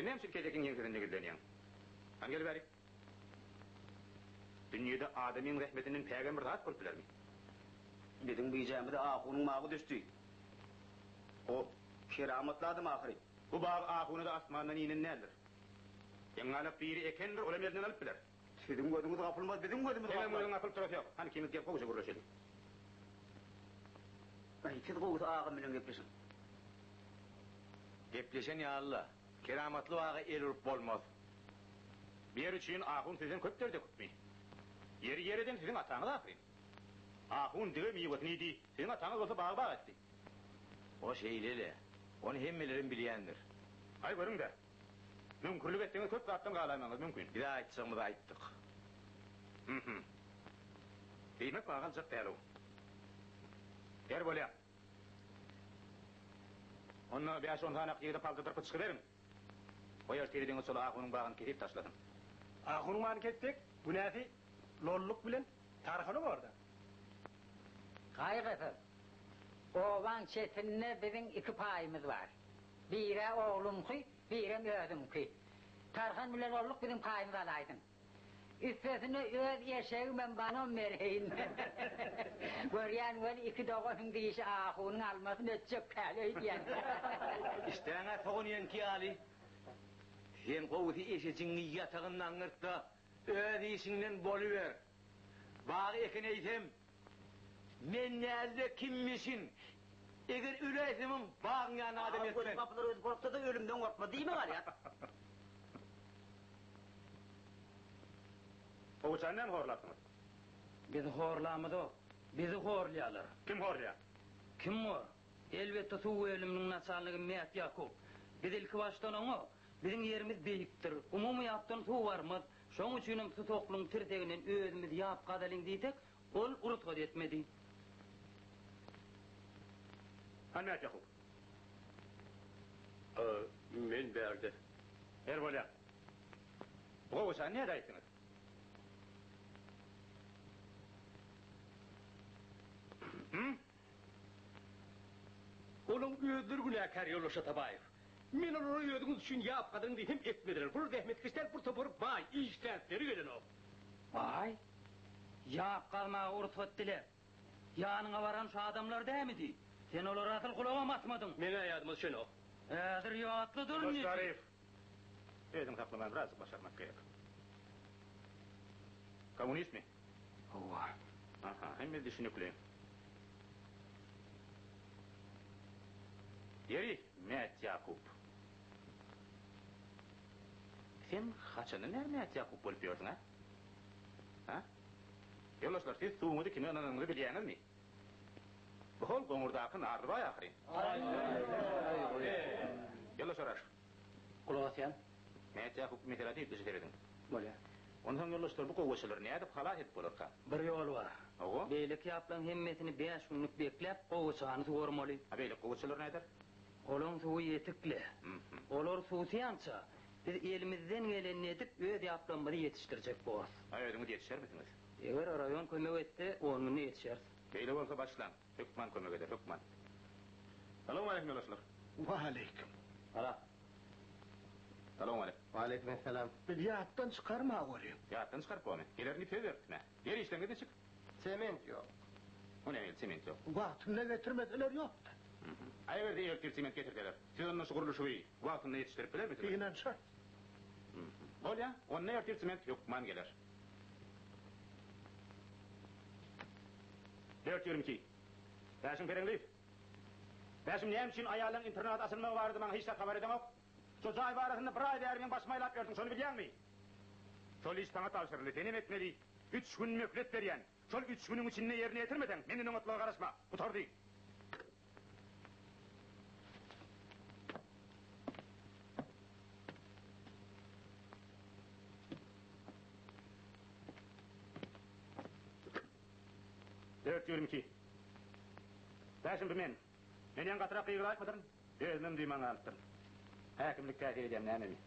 Sen näme üçin kesekiň ýeňsesinde gizlenýäň? Hany gel bärik! Dünýede adamyň zähmetinden pägän bir zat bolup bilermi? Biziň bijämiz ahunyň mawy düşdi. O, keramatly adam ahyry. Bu bag ahuny-da asmandan inen däldir. Ýaňalak biri ekendir, olam elinden alyp biler. Siziň gözüňiz gapylmaz, biziň gözümiz gapylar. Senem gözüň gapylyp durasy ýok. Hany ikimiz gel gowja gürleşeli. Aý, siz gowusy agam bilen gepleşiň. Gepleşen ýaly-la. Keramatly baga el urup bolmaz. Bu ýer üçin ahun sizden köp dert öküpmi? Ýeri ýer eden siziň ataňyz ahyryn. Ahun dige miwesini iýdi, siziň ataňyz bolsa bagy bag etdi. O şeýle-le. Ony hemmeleriň bilýändir. Aý, görüň-dä, Müňkürlik etseňiz köp zatdan galaýmagyňyz mümkin. Bize aýtjagymyzy aýtdyk. Hmhym. Diýmek maňa galjak dälow. Her bolýa. Onda bäş-on sany ak ýigide paltadyr pyçky beriň. Goý ertire deňiz şol ahunyň bagyny kesip taşlasyn. Ahunyň bagyny kessek, günäsi Lolluk bilen Tarhana bor-da. Gaýgysyz. Obaň çetinde biziň iki paýymyz bar. Bire ogluňky, birem özüňki. Tarhan bilen olluk biziň paýymyzy alaýsyn. Üstesine öz eşegimem banom berheýin. Görýän weli iki doganyň diýşi ahunyň almasyny etjek däl öýdýän. Işdäňe sogan iýenki ýaly, sen gowusy eşejiňi ýatagynda aňňyrt-da. Öz işiňden boluber. Bag ekin eýsem, men näzde kimmişin? Eger öläýsemem, bagyň ýanyna adam eltmen. Aman göni gapylar özi gorksa-da, ölümden gorkmaz diýme galýar. Gowaçany näme horlapsyňyz? Biz horlamyzok. Bizi horlaýarlar. Kim horlaýar? Kim bor? Elbetde, suw bölüminiň naçalnigi Mätýakup. Biz ilkibaşdan oňa Biziň ýerimiz beýikdir. Umumy ýapdan suw barmaz. Şoň üçinem Susaklyň tirseginden özümiz ýap gazalyň diýsek, ol rugsat etmedi. Hany nätjekgin? Men bärde. Her bolýar. Bu gowaçany nädip äýtdiňiz? Hum? Olaň özleri günäkär, ýolbaşçy Atabaýew. Men olara özüňiz üçin ýap gazyň diýip hem etmediler. Bular zähmetkeş däl, bir topar baý, işdäpleri gelenok. Baý? Ýap gazmaga ursat dile. Ýanyňa baran şu adamlar dämi diý. Sen olara asyl gulagam asmadyň. Meň-ä ýadyma düşenok. Häzir ýatly dur indi. Başaryp, özüňi saklamany birazjyk başarmak gerek. Kommunistmi? Howwa. Aha, hemme düşünikli. Ýeri, Mätýakup. Sen haçandan bäri Mätýakup bolup ýörsüň, a? A? Ýoldaşlar, siz suwuňyzy kime ynananyňyzy bilýäňizmi? Bu hol goňurdaky Narlybaý ahyryn. Ýoldaşlar, Gulak asýan. Näçe hukuk meselesi ýüztüje serediň. Bolýar. Onsoň ýoldaşlar bu gowaçalary nädip halas edip bolarka? Bir ýoly bar. Hawa. Beýleki ýaplaň hemmesini bäş günlük bekläp gowaçany suwarmaly. A beýleki gowaçalar näder? Olaň suwy ýetikli. Hmhym. Olar suwsaýança biz elimizden gelenini edip öz ýaplamyzy ýetişdirjek borus. A özüňiz ýetişermisiňiz? Eger raýon kömek etse on günde ýetişeris. Beýle bolsa başlaň. Hökman kömek eder hökman. Salowmaleýkim ýoldaşlar. Waleýkim. Salam. Salowmaleýk. Waleýkim essalam. Biz ýatdan çykarma welin. Ýatdan çykaryp bolmy? Geler diýip söz beripdi mä. Ýer işleň edişik. Sement ýok. O näme geldi sement ýok. Wagtynda getirmeseler ýokda. Ägerde ertir sement getirseler. Siz onda şu gurluşygy wagtynda ýetişdirip bilermisiňiz? Ynanşarys. Bolýa onda ertir sement hökman geler. Dört ýürim iki. Bäşim pereňli. Bäşim näme üçin aýallaň internada asylmagy barada maňa hiç zat habar edeňok? Şo jaý barasynda bir aý bäri meň başymy aýlap ýörsüň, şony bilýäňmi? Şol iş saňa tabşyryldy, senem etmeli. Üç gün möhlet berýän. Şol üç günüň içinde ýerine ýetirmeseň, menden oňatmaga garaşma. Gutardy. Dört ýüz ýigrimi iki. Bäşim, bu men. Men ýaňy gatyrak gygyryp aýtmadyryn, özümem duýman galypdyryn. Häkimlik täsir edýämi, nämemi?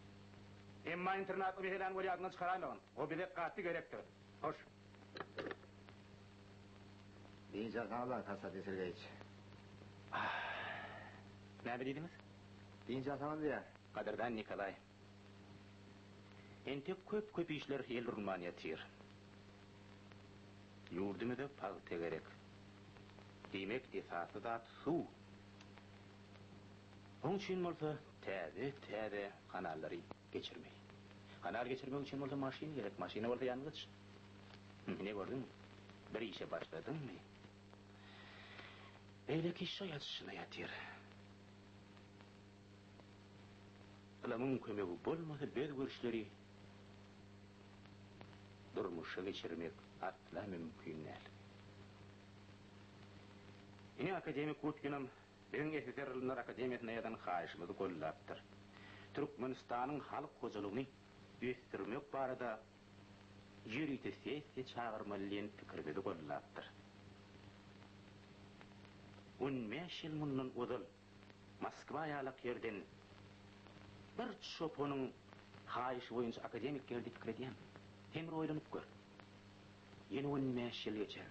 Emma internatly Miheläni welýadyndan çykaraýmagyn. O bize gaty gerekdir. Hoş. Diyce Gala Kasa Desirgeyiç. Ah. Näme diýdiňiz? Diyce Ataman diýýär. Gadyrdan Nikolaý. Entek köp köp işler el urulman ýatyr. Ýurdumyza pagta gerek. Diýmek esasy zat suw. Oň üçin bolsa täze täze kanallary. geçirmeli. Kanal geçirmek üçin bolsa maşyn gerek, maşyna bolsa ýangyç. Ine gördüňmi? Bir işe başladyňmy, beýleki iş-de ýatyşyna ýatyr. Ylymyň kömegi bolmasa biz bu işleri durmuşa geçirmek asla mümkin däl. Ine akademik Utginam Öň SSR Ylymlar akademiýasyna ýazan haýyşymyzy goldapdyr. Türkmenistanyň halk hojalygyny ösdürmek barada ýörite sessiýa çagyrmaly diýen pikirimizi goldapdyr. On bäş ýyl mundan ozal Moskwa ýalak ýerden bir çopanyň haýyşy boýunça akademik geldi pikir edýän. Sen bir oýlanyp gör. Ýene on bäş ýyl geçer.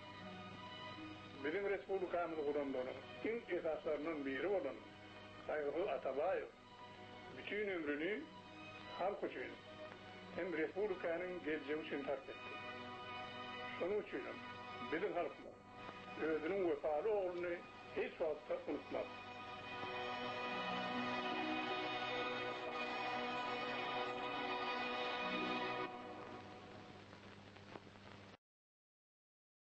Biziň respublikamyzy guranlaryň iň esaslaryndan biri bolan Saýgysy Atabaýew bütin ömrüni halk üçin hem respublikanyň geljegi üçin sarp etdi. Şonuň üçinem biziň halkymyz özüniň wepaly ogluny hiç wagtda unutmaz.